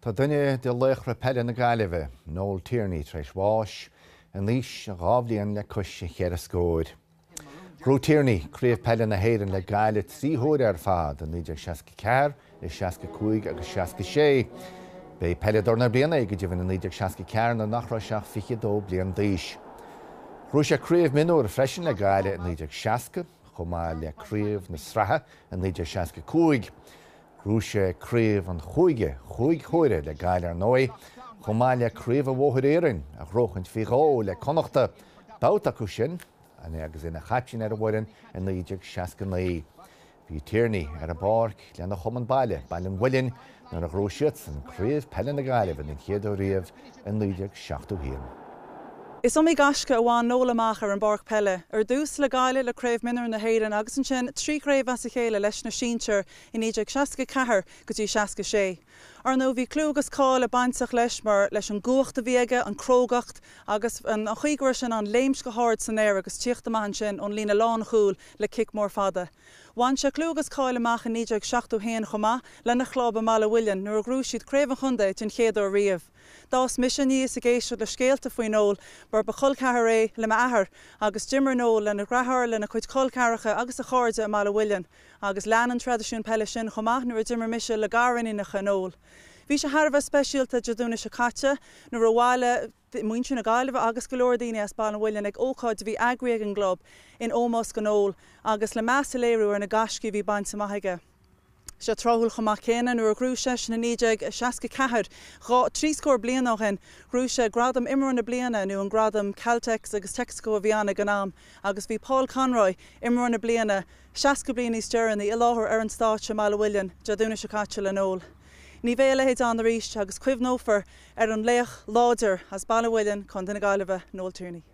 Tá duine de laochra peile na Gaillimhe, Noel Tierney, tar éis bháis, in aois a dhá bhliain le cois a cheithre scóir. Ghnóthaigh Tierney Craobh Peile na hÉireann le Gaillimh trí huaire ar fad, i 1964, i 65 agus 66. B'é Peileadóir na Bliana é go deimhin i 1964 nuair nach raibh sé ach 22 bliain d'aois. Ghnóthaigh sé Craobh Mionúr freisin le Gaillimh i 1960, chomh maith le Craobh na Sraithe i 1965. Ghnóthaigh sé craobh an chúige cúig huaire le Gaillimh ar ndóigh, chomh maith le craobh an Bhóthair Iarainn a ghróchaint faoi dhó le Connachta, babhta acu sin agus é ina chaiptín ar an bhfoireann i 1969. Bhí Tierney ar an bpáirc lena chumann baile, Baile an Mhuilinn, nuair a ghnóthaigh siadsan craobh peile na Gaillimhe den chéad uair riamh i 1971. Is iomaí gaisce a bhain Noel amach ar an bpáirc peile, ar dtús le Gaillimh le Craobh Mionúr na hÉireann agus ansin trí chraobh as a chéile leis na sinsir, i 1964 go dtí 66. Ar ndóigh, bhí clú agus cáil bainteach leis mar, leis an gcumhacht a bhí aige, an crógacht agus an chaoi go raibh sé in ann léimt go hard san aer agus tíocht amach ansin ón líne lánchúil le cic mór fada. Bhain sé clú agus cáil amach i 1971 chomh maith lena chlub i mBaile an Mhuilinn nuair a ghnóthaigh siad Craobh an Chontae den chéad uair riamh. D'fhás mise aníos ag éisteacht le scéalta faoi Noel mar ba cholcheathar é le m'athair agus d'imir Noel lena dhreatháir, lena chuid col ceathracha agus a chairde i mBaile an Mhuilinn. Agus lean an traidisiún peile sin chomh maith nuair a d'imir mise le gariníonacha Noel. Bhí sé thar a bheith speisialta Dé Domhnaigh seo caite nuair a bhailigh muintir na Gaillimhe agus go leor daoine as Baile an Mhuilinn ag ócáid a bhí eagraithe ag an gclub in ómós do Noel agus le meas a léiriú ar na gaiscí a bhí bainte amach aige. Bhí sé tráthúil chomh maith céanna nuair a ghnóthaigh seisean i 1964, dhá, trí scór bliain ó shin, ghnóthaigh sé gradam Imreoir na Bliana nó an gradam Caltex agus Texaco a bhí ann ag an am agus bhí Paul Conroy, Imreoir na Bliana, 60 bliain níos deireanaí, i láthair ar an stáitse i mBaile an Mhuilinn, Dé Domhnaigh seo caite, le Noel. Ní bheidh a leithéid ann arís agus cuimhneofar ar an laoch láidir as Baile an Mhuilinn, Co. na Gaillimhe, Noel Tierney.